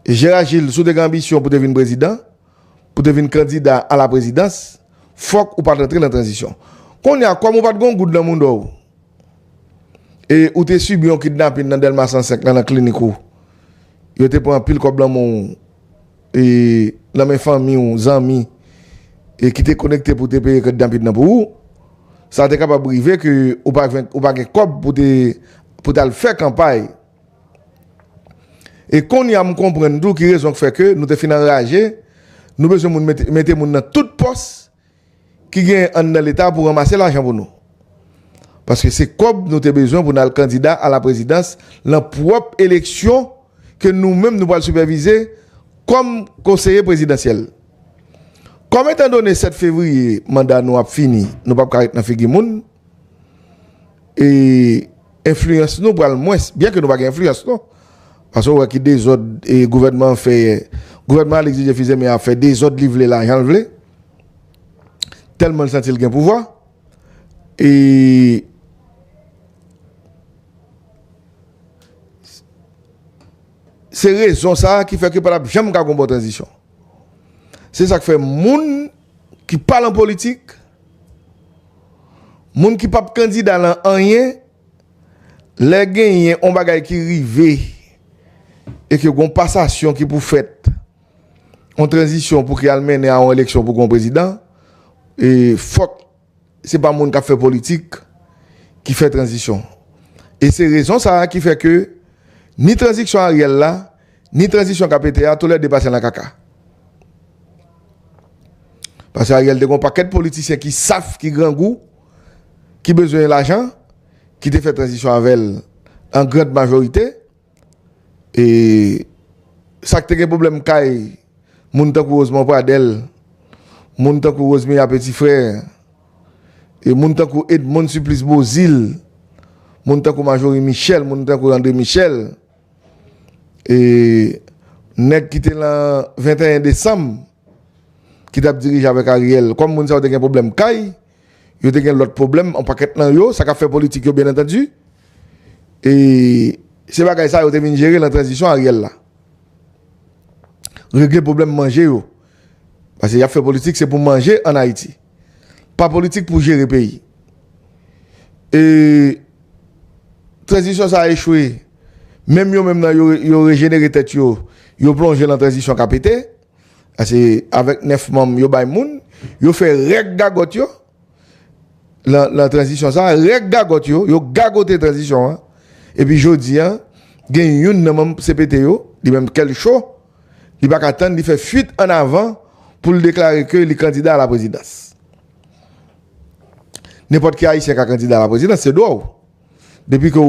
Gérard Gilles si w te gen anbisyon pou te vin prezidan, pou te vin kandida a la prezidans, fòk ou pa t rantre nan tranzisyon. Kounye a, kòm ou pa t gen yon goud nan mounda w, e ou te sibi yon kidnapin nan Dèlma 105 lan nan klinik ou, yo te pran anpil kòb nan men w, e nan men fanmi w, zanmi, e ki te konekte pou te peye kidnapin nan pou ou, sa te kapab rive ke ou pa gen kòb pou te al fè kanpay. E konnya m konprann tou ki rezon k fè ke nou te fin anraje, nou bezwen moun mete moun nan tout pòs ki genyen anndan leta pou ranmase lajan pou nou. Paske se kòb nou te bezwen pou n al kandida a la prezidans lan pwòp eleksyon ke nou menm nou pral sipèvize kòm konseye prezidansyèl. Kòm etan done 7 fevriye manda nou ap fini nou pap ka ret nan figi moun, e enfliyans nou pral mwens, byen ke nou pa gen enfliyans non, paske ou wè ki dezòd e gouvènman an fè yè, gouvènman Alix Didier Fils-Aimé a fè dezòd li vle la jan l vle, tèlman l santi l gen pouvwa, e se rezon sa ki fè ke pa t ap janm ka gen yon bon tranzisyon. Se sa k fè moun ki pa lan politik, Moun ki pap kandida lan anyen, lè genyen on bagay ki rive e ke gon pasasyon ki pou fèt, on tranzisyon pou ki al mennen a on eleksyon pou gon prezidan, e fòk se pa moun k ap fè politik ki fè tranzisyon. E se rezon sa a ki fè ke ni tranziksyon Ariel la, Ni tranzisyon ka pete a tou lè 2 pase nan kaka. Pase Ariel te gon pakèt politisyen ki saf ki grangou ki bezwen lajan ki te fè tranzisyon avèl an grand majorite e sak te gen pwoblèm kay moun tankou Rosemond Pradel moun tankou Rosemilla Petit Frère e moun tankou Edmonde Supplice Beauzile moun tankou Majorie Michel moun tankou André Michel. E nèg ki te lan 21 desanm ki tap dirije avèk Ariel kòm moun sa yo te gen pwoblèm kay, yo te gen lòt pwoblèm an pakèt nan yo, sa kap fè politik yo byen antandi. E se bagay sa yo te vin jere lan tranzisyon Ariel la. Regle pwoblèm manje yo. Pase yap fè politik se pou manje an Ayiti. Pa politik pou jere peyi. E tranzisyon sa a echwe. Menm yo menm nan yo rejenere tèt yo, yo plonje nan tranzisyon k a pete. Ase avèk 9 manm yo bay moun. Yo fè règ gagòt yo nan tranzisyon sa a. Règ gagòt yo, yo gagote tranzisyon an. Epi jodi an, gen youn nan manm CPT yo, li menm kè l cho. Li pa ka tann li fè fuit an avan pou l deklare ke li kandida a la prezidans. Nenpòt ki Ayisyen ka kandida a la prezidans, se dwa w. Depi ke w.